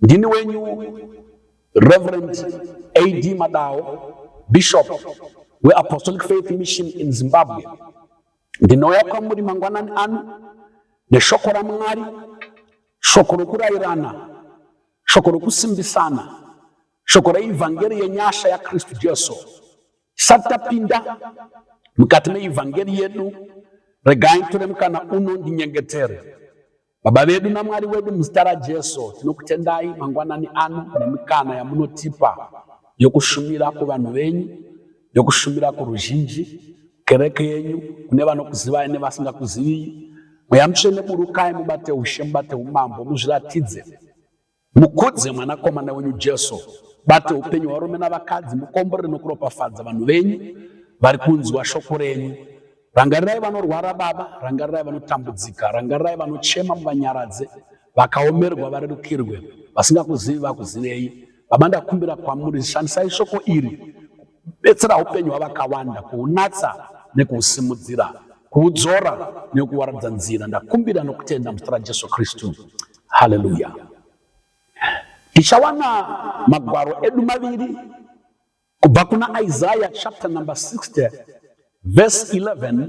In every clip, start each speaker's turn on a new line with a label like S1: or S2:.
S1: Ndini wenyu Reverend AD Madawo, Bishop weApostolic Faith Mission in Zimbabwe. Ndinouya kwamuri mangwanani ano neshoko raMwari, shoko rokurairana, shoko rokusimbisana, shoko reivhangeri yenyasha yaKristu Jesu. Tisati tapinda mukati meivhangeri yedu, regai tore mukana uno ndinyengetere. Baba vedu naMwari wedu muzita raJesu tinokutendai mangwanani ano nemikana yamunotipa yokushumira kuvanhu venyu yokushumira kuruzhinji kereke yenyu kune vanokuzivai nevasingakuziviyi mweya mutsvene burukai mubate ushe mubate umambo muzviratidze Mukudze mwanakomana wenyu Jesu. Bate upenyu hwarume navakadzi, mukomborere nokuropafadza vanhu venyu vari kunzwa shoko renyu. Rangarirai vanorwara, Baba, rangarirai vanotambudzika, rangarirai vanochema, muvanyaradze, vakaomerwa varerukirwe, vasingakuzivi vakuzivei. Baba, ndakumbira kwamuri, shandisai shoko iri betsera upenyu hwavakawanda kuunatsa nekuusimudzira kuudzora nekuwaradza nzira ndakumbira nokutenda muzita rajesu kristu haleluya tichawana magwaro edu maviri kubva kuna isaya chapter number 60 verse 11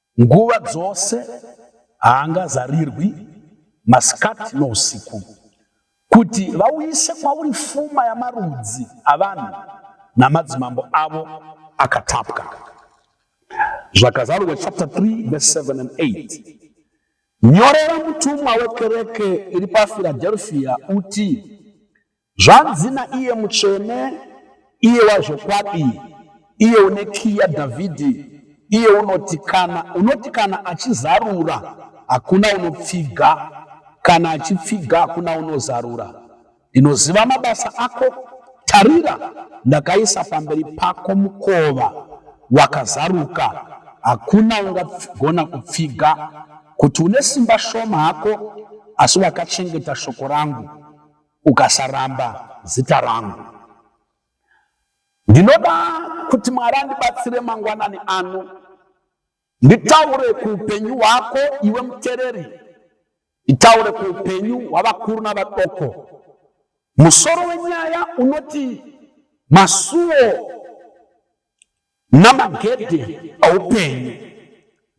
S1: Nguva dzose haangazarirwi masikati nousiku, kuti vauyise kwauri fuma yamarudzi avanhu namadzimambo avo akatapwa. Zvakazarurwa chapter 3 verse 7 and 8. Nyorera mutumwa wekereke iri paFiladelfia uti, Zvanzi naiye mutsvene, iye wazvokwadi, iye une kiyi yaDhavhidhi, iye unoti, Kana unoti kana achizarura, hakuna unopfiga, kana achipfiga, hakuna unozarura. Ndinoziva mabasa ako. Tarira, ndakaisa pamberi pako mukova wakazaruka, hakuna ungagona kupfiga, kuti une simba shoma hako, asi wakachengeta shoko rangu. ukasaramba zita rangu. Ndinoda kuti Mwari andibatsire mangwanani ano nditaure kuupenyu hwako iwe mutereri, nditaure kuupenyu hwavakuru navadoko. Musoro wenyaya unoti masuo namagedhe aupenyu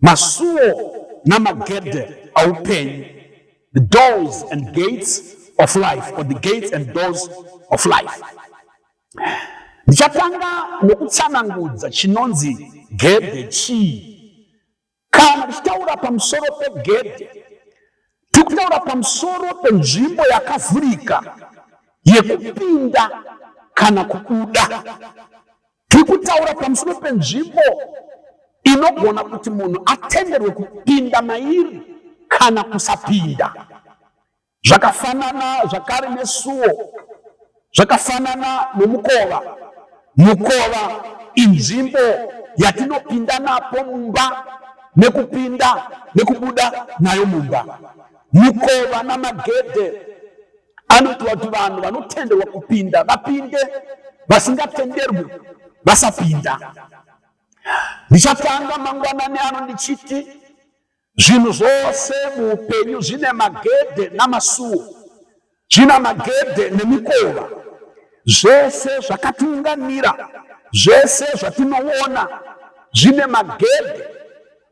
S1: masuo namagedhe aupenyu the doors and gates of life or the gates and doors of life ndichatanga nokutsanangudza chinonzi gedhe chii Kana tichitaura pamusoro pegedhe, tiri kutaura pamusoro penzvimbo yakavhurika yekupinda kana kubuda. Tiri kutaura pamusoro penzvimbo inogona kuti munhu atenderwe kupinda mairi kana kusapinda. Zvakafanana zvakare nesuo, zvakafanana nomukova. Mukova inzvimbo yatinopinda napo mumba nekupinda nekubuda nayo mumba. Mukova namagedhe anoitwa kuti vanhu vanotenderwa kupinda vapinde, vasingatenderwi vasapinda. Ndichatanga mangwanani ano ndichiti Zvinhu zvose muupenyu zvine magedhe namasuo, zvina magedhe nemikova. Zvese zvakatiunganira, zvese zvatinoona zvine magedhe.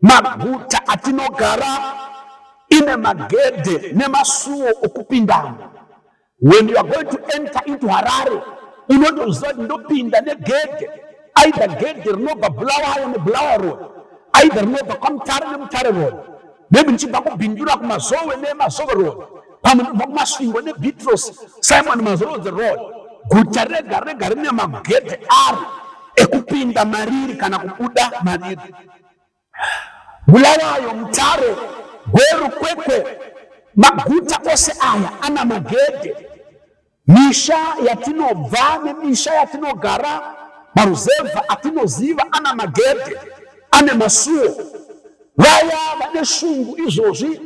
S1: Maguta atinogara ine magedhe nemasuo okupindamo. When you are going to enter into Harare, unotoziva kuti ndopinda negedhe aidha gedhe rinobva bulawayo nebulawa road aidha rinobva kwamutare nemutare road maybe ndichibva kubhindura kumazowe nemazowe road pamwe ndibva kumasvingo nebitros simon mazorodze road guta rega rega rine magedhe aro ekupinda mariri kana kubuda mariri Bulawayo, Mutare, Gweru, Kwekwe, maguta ose aya ana magedhe. Misha yatinobva nemisha yatinogara, maruzevha atinoziva ana magedhe, ane masuo. Vaya vane shungu izvozvi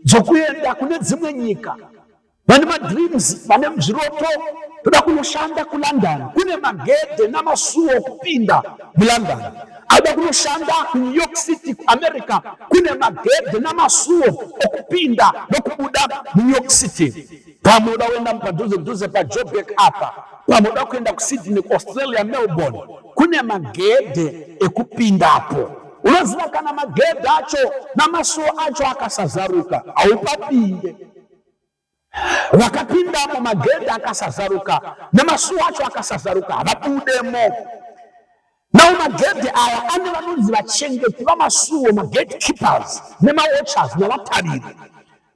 S1: dzokuenda kune dzimwe nyika vane madreams vane zviroto toda kunoshanda kulondon kune magedhe namasuo okupinda mulondon aida kunoshanda kunew york city kuamerica kune magedhe namasuo okupinda nokubuda munew york city pamwe uda kuenda mupadhuze dhuze pajobek apa pamwe uda kuenda kusydney kuaustralia melbourne kune magedhe ekupindapo unoziva kana magedhe acho namasuo acho akasazaruka haupapinde vakapindamo magedhi akasazaruka nemasuo acho akasazaruka havapindemo nao magedhi aya ane vanonzi vachengeti vamasuo magate keepers nemawatchers navatariri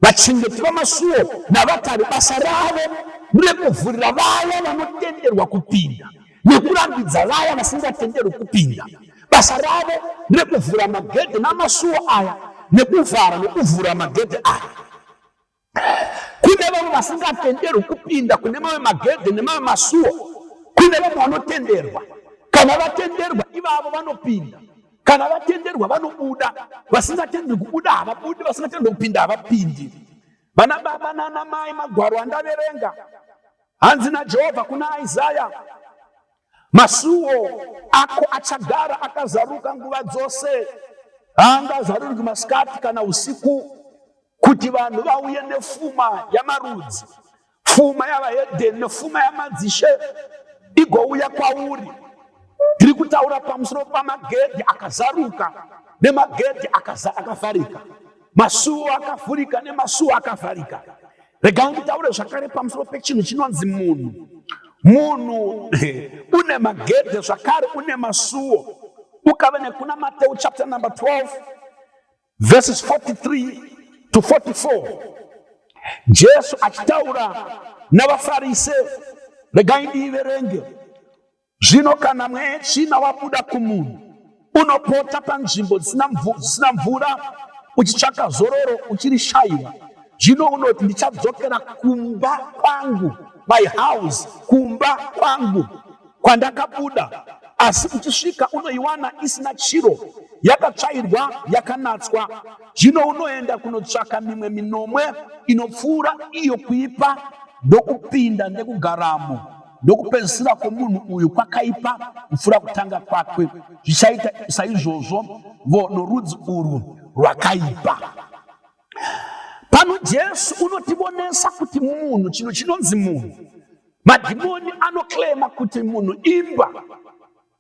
S1: vachengeti vamasuo navatari basa ravo rekuvhurira vaya vanotenderwa kupinda nekurambidza vaya vasingatenderwi kupinda. Basa ravo rekuvhura magedhe namasuo aya nekuvhara nekuvhura magedhe aya. Kune vamwe vasingatenderwi kupinda kune mamwe magedhe nemamwe masuo, kune vamwe vanotenderwa. Kana vatenderwa ivavo vanopinda, kana vatenderwa vanobuda. Vasingatenderwi kubuda havabudi, vasingatenderwi kupinda havapindi. Vana baba nana mai, magwaro andaverenga Hanzi naJehovha kuna Isaya, masuo ako achagara akazaruka nguva dzose, haangazarurwi masikati kana usiku, kuti vanhu vauye nefuma yamarudzi, fuma yavahedheni nefuma yamadzishe igouya kwauri. Tiri kutaura pamusoro pamagedhi akazaruka nemagedhi akafarika, masuo akavhurika nemasuo akavharika. Rega nditaure zvakare pamusoro pechinhu chinonzi munhu. Munhu une magedhe zvakare une masuwo. Ukave nekuna Mateu chapter number 12 verses 43 to 44. Jesu achitaura navaFarise, regai ndiiverenge. Zvino kana mwetsvina wabuda kumunhu, unopota panzvimbo dzisina mvura uchitsvaka zororo uchirishaiwa. Zvino unoti ndichadzokera kumba kwangu, my house, kumba kwangu kwandakabuda, asi uchisvika unoiwana isina chiro, yakatsvairwa, yakanatswa. Zvino unoenda kunotsvaka mimwe minomwe inopfuura iyo kuipa ndokupinda nekugaramo. Ndokupedzisira kwomunhu uyu kwakaipa kupfuura kutanga kwakwe, zvichaita saizvozvo vo norudzi urwu rwakaipa. Pano Jesu unotivonesa kuti munhu, chinhu chinonzi munhu, madhimoni anoclaima kuti munhu imbwa,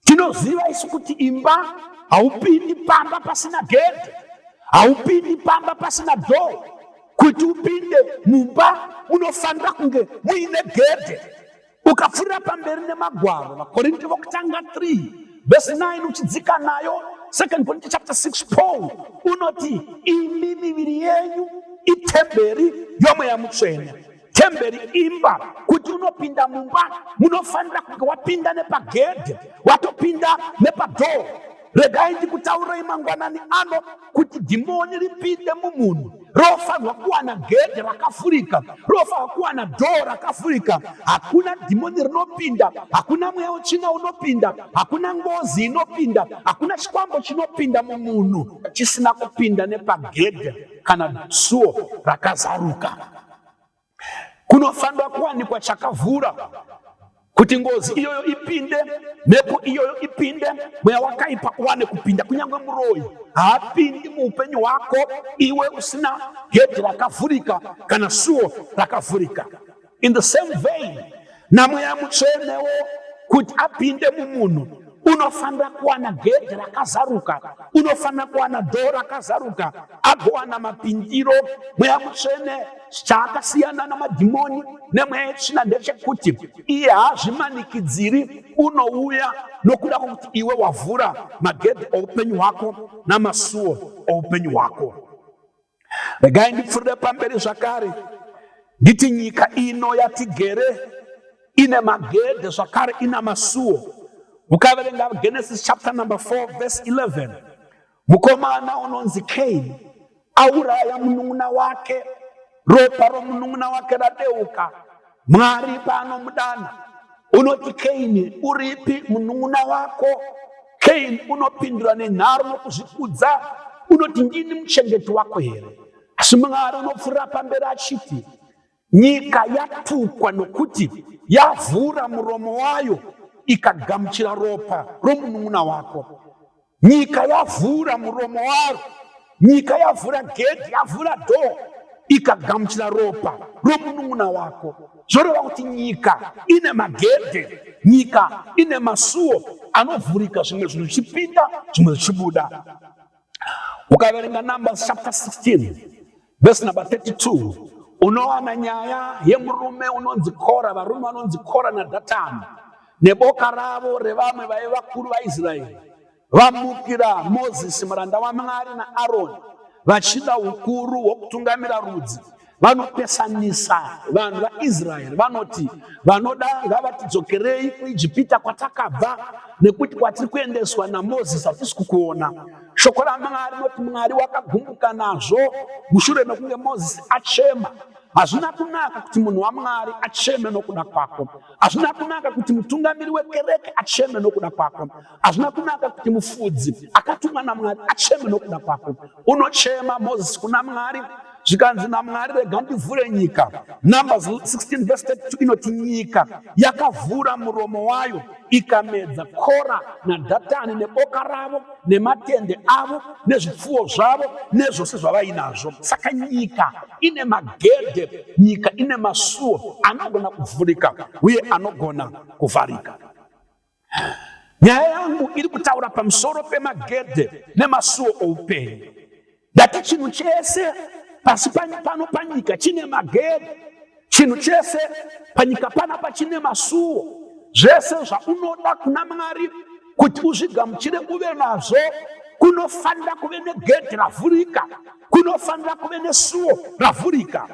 S1: Tinoziva isu kuti imba haupindi pamba pasina gedhi, haupindi pamba pasina dhoo. Kuti upinde mumba munofanira kunge muine gedhi. Ukapfuurira pamberi nemagwaro, VaKorinte vokutanga 3 vhesi 9 uchidzika nayo, Second Corinthians chapter 6 Paul unoti imi miviri yenyu itemberi yomweya mutsvene Temberi imba, kuti unopinda mumba munofanira kunge wapinda nepagedhe, watopinda nepadhoo. Regai ndikutaurei mangwanani ano kuti dhimoni ripinde mumunhu rofanirwa kuwana gedhe rakafurika, rofanirwa kuwana dhoo rakafurika. Hakuna dhimoni rinopinda, hakuna mweya wetsvina unopinda, hakuna ngozi inopinda, hakuna chikwambo chinopinda mumunhu chisina kupinda nepagedhe kana suo rakazaruka. kunofanira kuwanikwa chakavhura kuti ngozi iyoyo ipinde, mhepo iyoyo ipinde, mweya wakaipa uwane kupinda. Kunyange muroyi haapindi muupenyu hwako iwe usina gedhi rakavhurika kana suo rakavhurika. In the same vein namweya mutsvenewo kuti apinde mumunhu unofanira kuwana gedhi rakazaruka unofanira kuwana dhoo rakazaruka agowana mapindiro mweya mutsvene chaakasiyana namadhimoni nemweya yetsvina ndechekuti iye haazvimanikidziri unouya nokuda kwekuti iwe wavhura magedhi oupenyu hwako namasuo oupenyu hwako Regai ndipfuurire pamberi zvakare nditi nyika ino yatigere ine magedhe zvakare ina masuo. Ukaverenga Genesis chapter number 4 verse 11 mukomana unonzi Cain auraya munun'una wake, ropa romunun'una wake radeuka Mwari paanomudana unoti Keini, uripi munun'una wako? Keini unopindura nenharo nokuzvikudza, unoti ndini muchengeti wako here? Asi Mwari unopfuura pamberi achiti, nyika yatukwa nokuti yavhura muromo wayo ikagamuchira ropa romunun'una wako. nyika yavhura muromo waro nyika yavhura gedhi yavhura dhoo ikagamuchira ropa romunun'una wako zvoreva kuti nyika ine magedhe nyika ine masuo anovhurika zvimwe zvinhu zvichipinda zvimwe zvichibuda ukaverenga numbers chapter 16 Verse number 32 unowana nyaya yemurume unonzi Kora, varume vanonzi Kora naDhatani neboka ravo revamwe vaive vakuru vaIsraeri vamukira Mozisi muranda waMwari naAroni vachida ukuru hwokutungamira rudzi vanopesanisa vanhu vaisraeri vanoti vanoda ngavatidzokerei kuijipita kwatakabva nekuti kwatiri kuendeswa namozisi hatisi kukuona Shoko raMwari rinoti Mwari wakagumbuka nazvo mushure mekunge Mozisi achema. Hazvina kunaka kuti munhu waMwari acheme nokuda kwako. Hazvina kunaka kuti mutungamiri wekereke acheme nokuda kwako. Hazvina kunaka kuti mufudzi akatumwa naMwari acheme nokuda kwako. Unochema Mozisi kuna Mwari zvikanzi namwari rega ndivhure nyika numbers 16 verse 32 inoti nyika yakavhura muromo wayo ikamedza kora nadhatani neboka ravo nematende avo nezvipfuwo zvavo nezvose zvavainazvo saka nyika ine magedhe nyika ine masuwo anogona kuvhurika uye anogona kuvharika Nyaya yangu iri kutaura pamusoro pemagedhe nemasuo oupenyu. Ndati chinhu chese pasi pano panyika chine magedhe, chinhu chese panyika panapa chine masuo. Zvese zvaunoda kuna Mwari kuti uzvigamuchire uve nazvo kunofanira kuve negedhe ravhurika, kunofanira kuve nesuo ravhurika.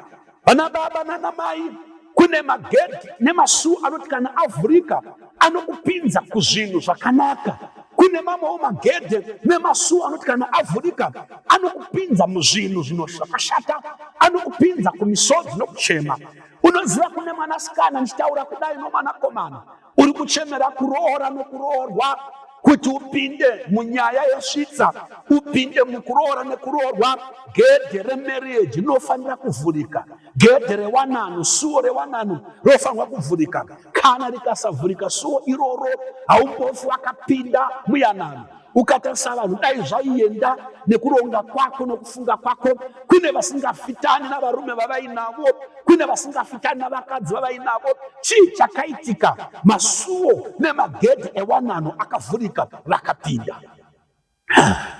S1: Vana baba nana mai kune magedhi nemasuo anoti kana avhurika anokupinza kuzvinhu zvakanaka kune mamwewo magedhe nemasuo anoti kana avhurika anokupinza muzvinhu zvinoshakashata anokupinza kumisodzi nokuchema unoziva kune mwanasikana ndichitaura kudai nomwanakomana uri kuchemera kuroora nokuroorwa kuti upinde munyaya yesvitsa upinde mukuroora nekuroorwa gedhe remarriage rinofanira kuvhurika gedhe rewanano suo rewanano rinofanirwa kuvhurika kana rikasavhurika suo iroro haumbofi wakapinda muyanano Ukatarisa vanhu dai zvaienda nekuronga kwako nokufunga kwako, kune vasingafitani navarume vavainavo, kune vasingafitani navakadzi vavainavo. Chii chakaitika? Masuo nemagedhi ewanano akavhurika, vakapinda.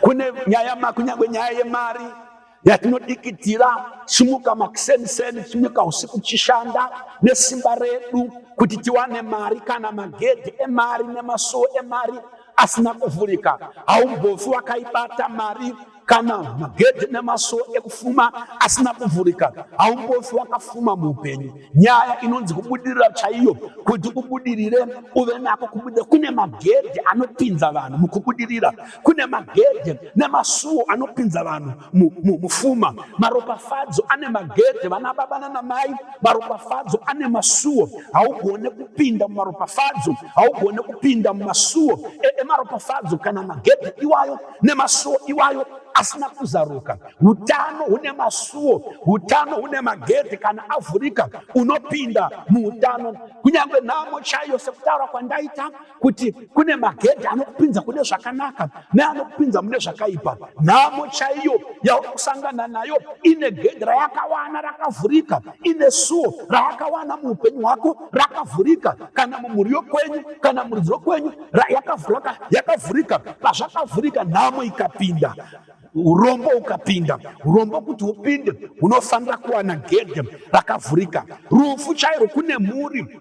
S1: Kune nyaya, kunyange nyaya yemari yatinodikitira simuka makuseniseni simuka usiku chishanda nesimba redu kuti tiwane mari kana magedhi emari nemasuo emari asina kuvhurika haumbofi wakaibata mari kana magedhi nemasuo ekufuma asina kuvhurika haumbofi wakafuma muupenyu nyaya inonzi kubudirira chaiyo kuti ubudirire uve nako kubudirira kune magedhi anopinza vanhu mukubudirira kune magedhe nemasuwo anopinza vanhu mufuma maropafadzo ane magedhe vana baba nanamai maropafadzo ane masuwo haugone kupinda mumaropafadzo haugone kupinda mumasuwo emaropafadzo kana magedhe iwayo nemasuwo iwayo asina kuzaruka utano hune masuwo utano hune magedhe kana avhurika unopinda muutano kunyange nhamo chaiyo sekutaura kwandaita kuti kune magedhi anokupinza kune zvakanaka neanokupinza mune zvakaipa nhamo chaiyo yauri kusangana nayo ine gedhi rayakawana rakavhurika ine suo rayakawana muupenyu hwako rakavhurika kana mumhuri yokwenyu kana muridzi wokwenyu yakavhurika pazvakavhurika nhamo ikapinda urombo ukapinda urombo kuti upinde unofanira kuwana gedhe rakavhurika rufu chairo kune mhuri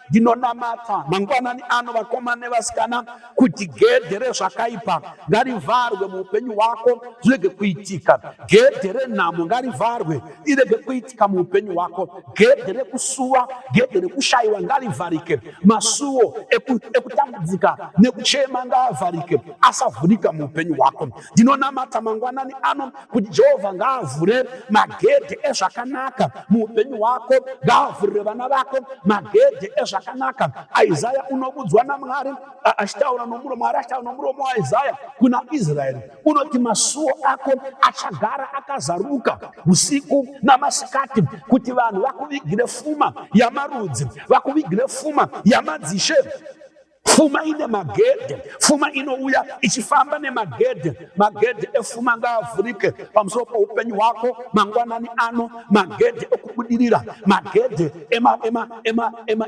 S1: ndinonamata mangwanani ano vakomana nevasikana kuti gedhe rezvakaipa ngarivharwe muupenyu hwako zvirege kuitika gedhe renhamo ngarivharwe irege kuitika muupenyu hwako gedhe rekusuwa gedhe rekushayiwa ngarivharike masuwo ekutambudzika nekuchema ngaavharike asavhurika muupenyu hwako ndinonamata mangwanani ano kuti jehovha ngaavhure magedhe ezvakanaka muupenyu hwako ngaavhurire vana vako magedhe ezvakanaka isaya unobudzwa namwari achitaura nomuro mwari achitaura nomuromo waisaya kuna israeri unoti masuo ako achagara akazaruka usiku namasikati kuti vanhu vakuvigire fuma yamarudzi vakuvigire fuma yamadzishe Fuma ine magedhe, fuma inouya ichifamba nemagedhe. Magedhe efuma ngaavhurike pamusoro poupenyu hwako mangwanani ano, magedhe ekubudirira, magedhe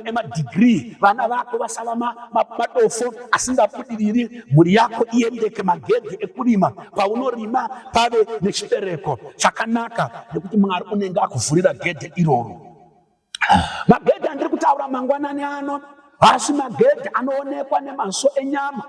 S1: emadhigrii, vana vako vasava madofo asingabudiriri, mhuri yako iendeke, magedhe ekurima, paunorima pave nechibereko chakanaka, nekuti Mwari unenge akuvhurira gedhe iroro. Magedhi andiri kutaura mangwanani ano haasi magedhi anoonekwa nemaso enyama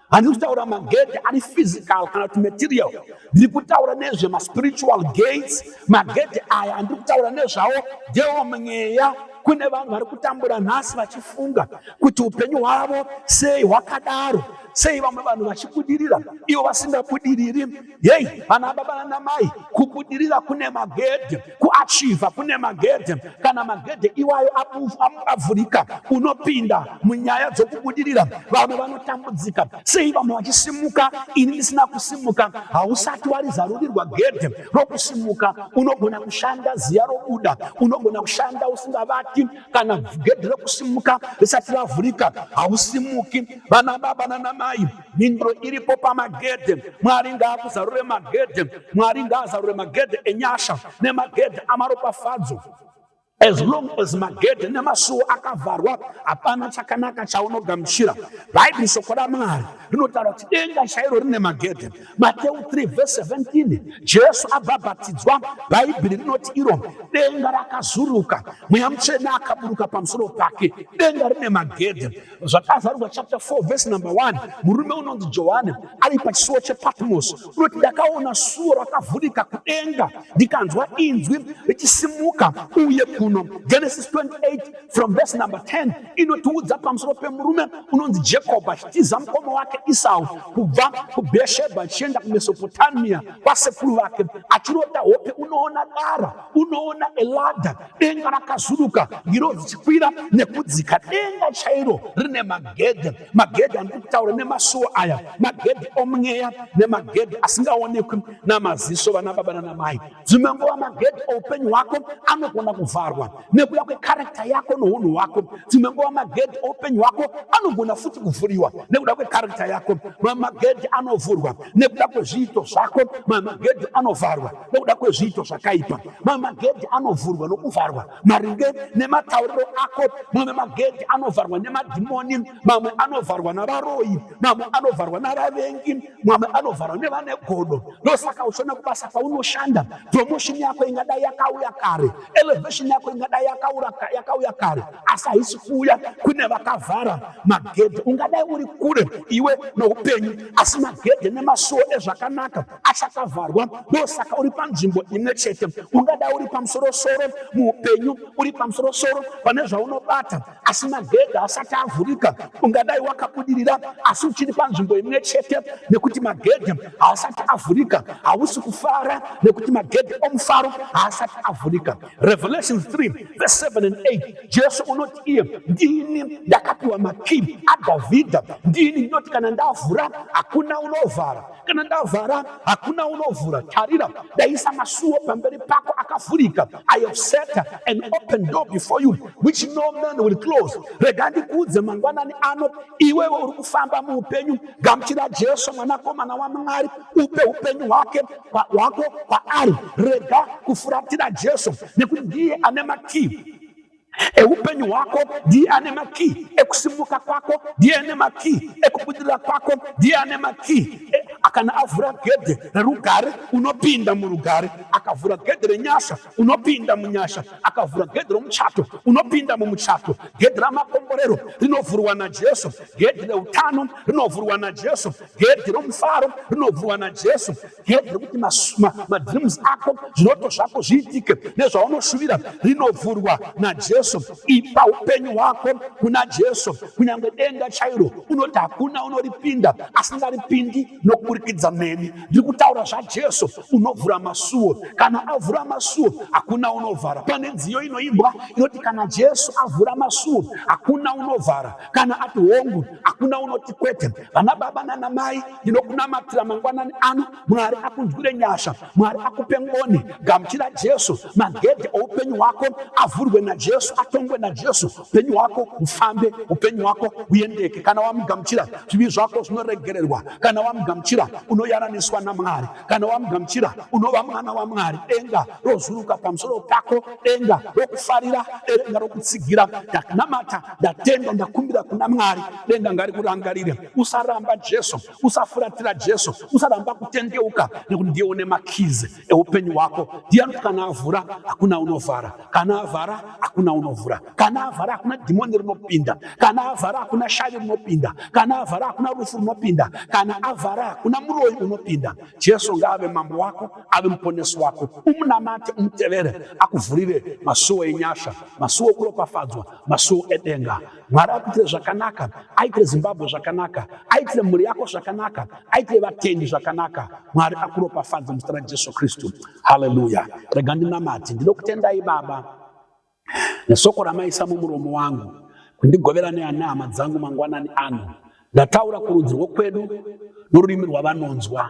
S1: handiri kutaura magedhi ari physical kana kuti material ndiri kutaura nezve maspiritual gates magedhi aya andiri kutaura nezvawo ndewo mweya kune vanhu vari kutambura nhasi vachifunga kuti upenyu hwavo sei hwakadaro sei vamwe vanhu vachibudirira ivo vasingabudiriri Yei, vana baba vana mai, kubudirira kune magedhe, kuachiva kune magedhe. Kana magedhe iwayo avhurika, unopinda munyaya dzokubudirira. Vamwe vanotambudzika, sei vamwe vachisimuka, ini ndisina kusimuka. Hausati warizarurirwa gedhe rokusimuka. Unogona kushanda ziya robuda, unogona kushanda usingavati. Kana gedhe rokusimuka risati ravhurika, hausimuki. Vana baba nana mai, mhinduro iripo pamagedhe mwari ngaakuzarure magedhe mwari ngaazarure magedhe enyasha nemagedhe amaropafadzo as long as magedhe nemasuwo akavharwa hapana chakanaka chaunogamuchira bhaibheri shoko ramwari rinotaura kuti denga chairo rine magedhe mateu 3 vhese 17 jesu abhabhatidzwa bhaibheri rinoti iro denga rakazuruka mweya mutsvene akaburuka pamusoro pake denga rine magedhe zvakazarurwa chapter 4 verse number 1 murume unonzi johani ari pachisuwo chepatmosi unoti ndakaona suwo rakavhurika kudenga ndikanzwa inzwi richisimuka uye kuno genesis 28 from verse number 10 inotiudza pamusoro pemurume unonzi jacob achitiza mukoma wake isau kubva kubheshebha achienda kumesopotamia kwasekuru vake achirota hope unoona dara unoona eladha denga rakazuduka ngiro dzichikwira nekudzika denga chairo rine magedhe magedhe andiri kutaura nemasuo aya magedhe omweya nemagedhe asingaonekwi namaziso vana baba nana mai dzimwe nguva magedhe oupenyu hwako anogona kuvharwa nekuda kwekarekta yako nounhu hwako dzimwe nguva magedhe oupenyu hwako anogona futi kuvhuriwa nekuda kwekarekta yako mamagedhe anovhurwa nekuda kwezviito zvako mamagedhe anovharwa nokuda kwezviito zvakaipa mamwe magedhi anovhurwa nokuvharwa maringe nematauriro ako mamwe magedhi anovharwa nemadhimoni mamwe anovharwa navaroyi mamwe anovharwa navavengi mamwe anovharwa nevane godo ndosaka uchiona kubasa kwaunoshanda promotion yako ingadai yakauya kare elevation yako ingadai yakauya kare asi haisi kuuya kune vakavhara magedhi ungadai uri kure iwe noupenyu asi magedhi nemasuo ezvakanaka achakavharwa ndosaka uri panzvimbo imwe chete ungada uri pamusorosoro muupenyu uri pamusorosoro pane zvaunobata asi magedha asati avhurika ungadai wakabudirira asi uchiri panzvimbo imwe chete nekuti magedha haasati avhurika hausi kufara nekuti magedha omufaro haasati avhurika revelation 3 verse 7 and 8 jesu unoti iye ndini ndakapiwa makii adhavhidha ndini ndinoti kana ndavhura hakuna unovhara kana ndavhara hakuna unovhura tarira ndaisa masuo pamberi pako akavhurika i have set an open door before you which no man will close rega ndikuudze mangwanani ano iwewe uri kufamba muupenyu gamuchira jesu mwanakomana wamwari upe upenyu hwake hwako kwaari rega kufuratira jesu nekuti ndiye ane makii Eupenyu hwako ndiye ane makii, ekusimuka kwako ndiye ane makii, ekubudirira kwako ndiye ane makii. E, akana avhura gedhe rerugare unopinda murugare, akavhura gedhe renyasha unopinda munyasha, akavhura gedhe romuchato unopinda mumuchato. Gedhe ramakomborero rinovhurwa naJesu, gedhe reutano rinovhurwa naJesu, gedhe romufaro rinovhurwa naJesu. yedere kuti madreams ako zviroto zvako zviitike nezvaunoshuvira rinovhurwa najesu ipa upenyu hwako kuna jesu kunyange denga chairo unoti hakuna unoripinda asingaripindi nokuburikidza neni ndiri kutaura zvajesu unovhura masuwo kana avhura masuwo hakuna unovhara pane nziyo inoimbwa inoti kana jesu avhura masuwo hakuna unovhara kana ati hongu hakuna unoti kwete. Vana baba nana mai, ndinokunamatira mangwanani ano. Mwari akunzwire nyasha, Mwari akupe ngoni. Gamuchira Jesu, magedhe oupenyu hwako avhurwe naJesu, atongwe naJesu. Upenyu hwako ufambe, upenyu hwako uendeke. Kana wamugamuchira, zvivi zvako zvinoregererwa. Kana wamugamuchira, unoyananiswa naMwari. Kana wamugamuchira, unova mwana waMwari. Denga rozuruka pamusoro pako denga rokufarira denga rokutsigira ndakunamata ndatenda ndakumbira kuna mwari denga ngarikurangarire usaramba jesu usafuratira jesu usaramba kutendeuka nekuti ndiye une makizi eupenyu hwako ndiye anoti kana avhura hakuna unovhara kana avhara hakuna unovhura kana avhara hakuna dhimoni rinopinda kana avhara hakuna shavi rinopinda kana avhara hakuna rufu rinopinda kana avhara hakuna muroyi unopinda jesu ngaave mambo wako ave muponesi wako umunamate umutevere akuvhurire masuwo enyasha masuwo okuropafadzwa masuwo edenga mwari akuitire zvakanaka aitire zimbabwe zvakanaka aitire mhuri yako zvakanaka aitire vatendi zvakanaka mwari akuropafadze muzita rajesu kristu haleluya rega ndinamati ndinokutendai baba nesoko ramaisa mumuromo wangu kundigovera neana hama dzangu mangwanani ano ndataura kurudzi rwokwedu norurimi rwavanonzwa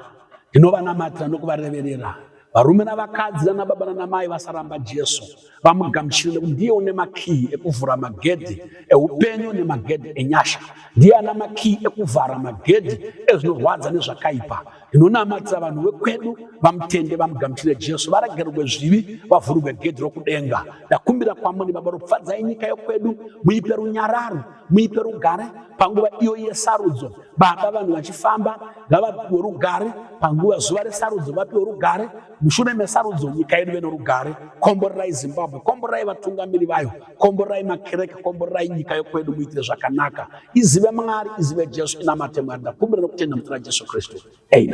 S1: ndinovanamatira nokuvareverera varume navakadzi nanababa nanamai vasaramba jesu vamugamuchire nekuti ndiye une makiyi ekuvhura magedhi eupenyu nemagedhi enyasha ndiye ana makiyi ekuvhara magedhi ezvinorwadza nezvakaipa ndinonamatira vanhu vekwedu vamutende vamugamuchire jesu varagerwe zvivi vavhurwe gedhi rokudenga ndakumbira kwamuri baba ropfadzai nyika yokwedu muipe runyararo muipe rugare panguva iyo yesarudzo baba vanhu vachifamba ngavapiwe rugare panguva zuva resarudzo vapiwe rugare mushure mesarudzo nyika yedu venorugare komborerai zimbabwe komborerai vatungamiri vayo komborai makereke komborai nyika yokwedu muitire zvakanaka izive mwari izive jesu inamate mwari ndakumbira nokutenda mutira jesu kristu amen